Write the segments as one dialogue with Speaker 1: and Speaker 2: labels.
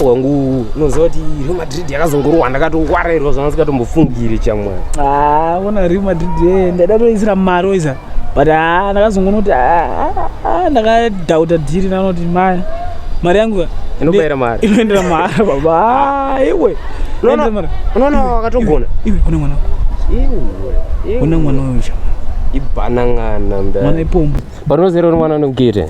Speaker 1: wangu unoziva kuti real madrid yakazongorohwa ndakatongwarairwa zvanga singatombofungiri chamwana ah, ona real madrid eh, ndaida toisira mari oiza but haa ah, ndakazongonoti haa ah, ah, ndakadhauta dhiri nanoti maya mari yangu inobaira mari inoendera mari baba iwe unoona wakatogona iwe une mwana iwe une mwana uyu chama ibanangana mda mwana ipombo but unozero uri mwana unogete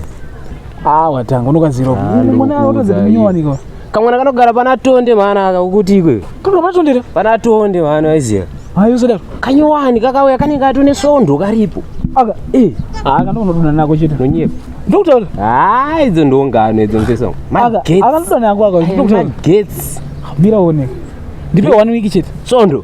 Speaker 1: ah watanga unokaziro mwana otodza kuminyowanikiwa kamwana kanogara pana tonde mwana aka ukuti ikwe kanogara pana tonde pana tonde mwana waiziva hayo zodaro kanyowani kakauya kanenge katone sondo karipo aka eh aka ndokunoduna nako chete nonyepa ndokutaura haa ah, idzo ndongano idzo mfeso magetsi aka ndokuda nako aka ndokutaura magetsi mira one ndipe one week chete sondo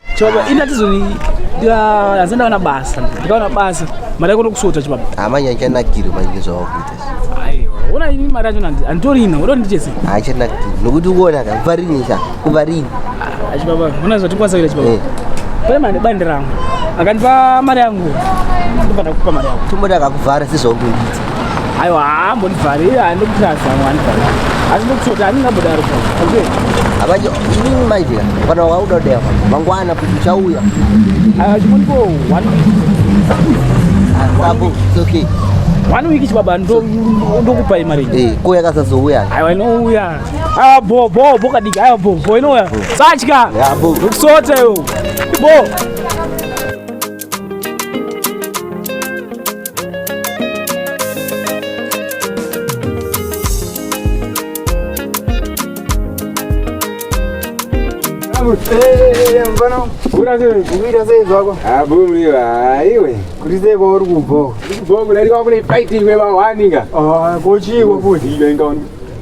Speaker 1: Chibaba ini atizoni asi ndaona basa ndikaona basa mari yako ndokusota chibaba hamanya chanakiri manje zvavakuita ona ini mari yacho handitorina udo ndichese hachanakiri nokuti uona ka kuvarini sa kuvarini ah, chibaba ona zvatikwanisa kuita chibaba eh. pane mari bandi rangu akandipa mari yangu ndobva ndakupa mari yangu tomboti akakuvhara sezvaungoita aiwa haambondivharira handikutasa wandivharira asi ndikuti handingambodaro okay abanje inini manje kana wauda dea mangwana kuti uchauya achimonipo one apo it's okay one week chibaba ndokupai mari eh ko yakasazouya aiwa inouya aiwa bo bo bo kadiki aiwa bo bo inouya satya ukusota yo bo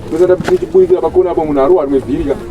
Speaker 1: kuzoda kuti chibuikira pakona apo munhu arohwa rimwe bhirika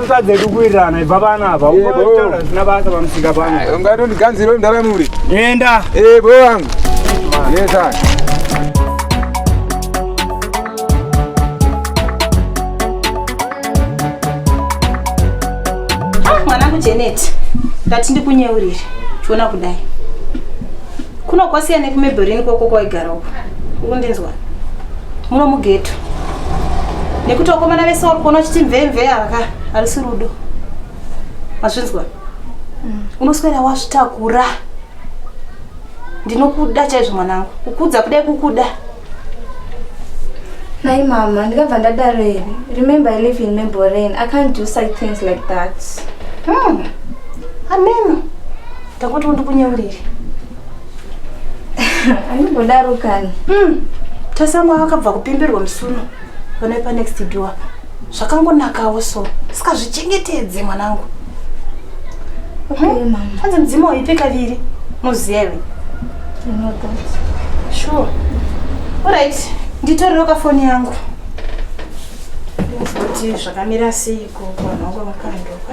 Speaker 1: Kusa dzedu kuwirirana ibva vana ava. Unotaura zvisina basa pamusika pano. Ungatondiganzira mdara muri. Enda. Eh, boy wangu. Yes, sir. Janet, ndati ndikunyeurire chiona kudai kuno kwasiya nekumebherini kwoko kwaigara uko ukundinzwa muno mugeto nekuti vakomana vese vari kuona vachiti mvemve ava ka harisi rudo mazvinzwa mm. unoswera wazvitakura ndinokuda chaizvo mwanangu kukudza kudai kukuda nai mama ndikabva ndadaro here remember i live in memborain i can't do such things like that hmm. ameno ndakuti undikunyeuriri anododaro kani mm. tasamwa vakabva kupimbirwa musuno vanoipa next door zvakangonakawo so saka zvichengetedze mwanangu hmm? hanzi okay, mudzimu waipe kaviri muzive sure orit nditorero kafoni yangu kuti zvakamira seiko vanhu vangu vakandoka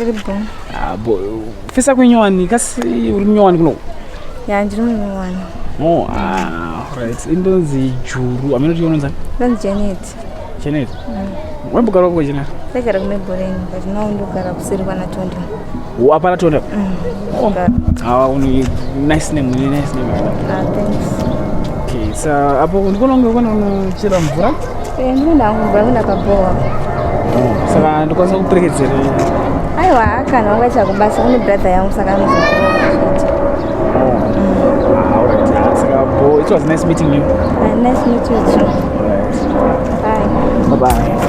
Speaker 1: Iri bho. Ah, bo fisa kunyowani kasi uri munyowani kuno. Ya ndiri munyowani. Oh, ah, right. Indonzi Juru. Amene kuti unonzi? Ndonzi Janet. Janet. Mm. Wembogara kwa Janet? Ndagara kumebhoreni but now ndogara kuseri kwana Tonde. Wapara Tonde? Mm. Oh, ah, uni nice name, uni nice name. Ah, thanks. Okay, so apo ndikuona kunge kwana unochera mvura? Eh, ndinoda mvura kuna kabhowa. Oh, saka ndikwanisa kuperekedzera. Aiwa, kana wanga chakubasa kune brother yangu saka anozokuona. Oh. Mm. Ah, all right. Ah, saka bo, it was nice meeting you. Uh, nice meeting you too. All right. Bye. Bye bye.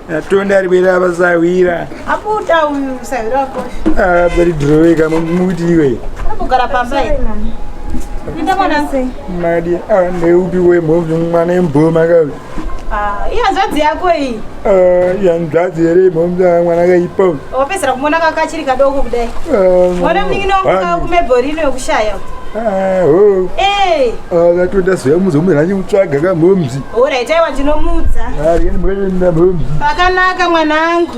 Speaker 1: atonda ari bwera apa sahwira abuda uyu sahwira wako ah bari droweka muti iwe akugara pamba ita mwana madi ah neupi we mhovu mwana emboma ka ah iya zwadzi yako iyi ah ya nzadzi ere mhovu ya mwana ka ipo wapesera kumona ka kachiri kadoko kudai ah mwana mingino ka kumeborino yokushaya ah ho eh ah atoda zve muzo mwana nyi utsvaga ka mhovu Alright, aiwa ndinomuudza. Pakanaka mwanangu.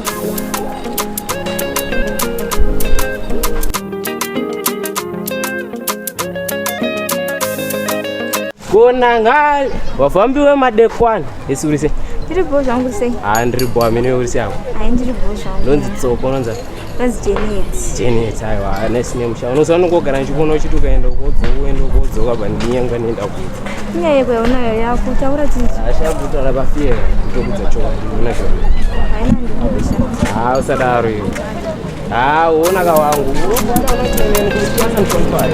Speaker 1: Kona ngai vafambi vemadekwana esurise. Ndiri bho zvangu sei? Ah, ndiri bho amene urise apo. Ai ndiri bho zvangu. Ndonzi tsoko unonzi. That's Janet. Janet, aiwa, nice name sha. Unoziva unongogara ndichikuona uchiti ukaenda uko wodzoka uende uko wodzoka apa ndinyanga nenda kuita. Nyaya yeko yaunayo yakutaura chinhu. Asha kutaura pafear kutokudza chokwadi unoona chokwadi. Haina ndikumbusha. Ha usadaro iwe. Ha uona ka wangu. Unoona unochemeni kuti kwasa mshomfari.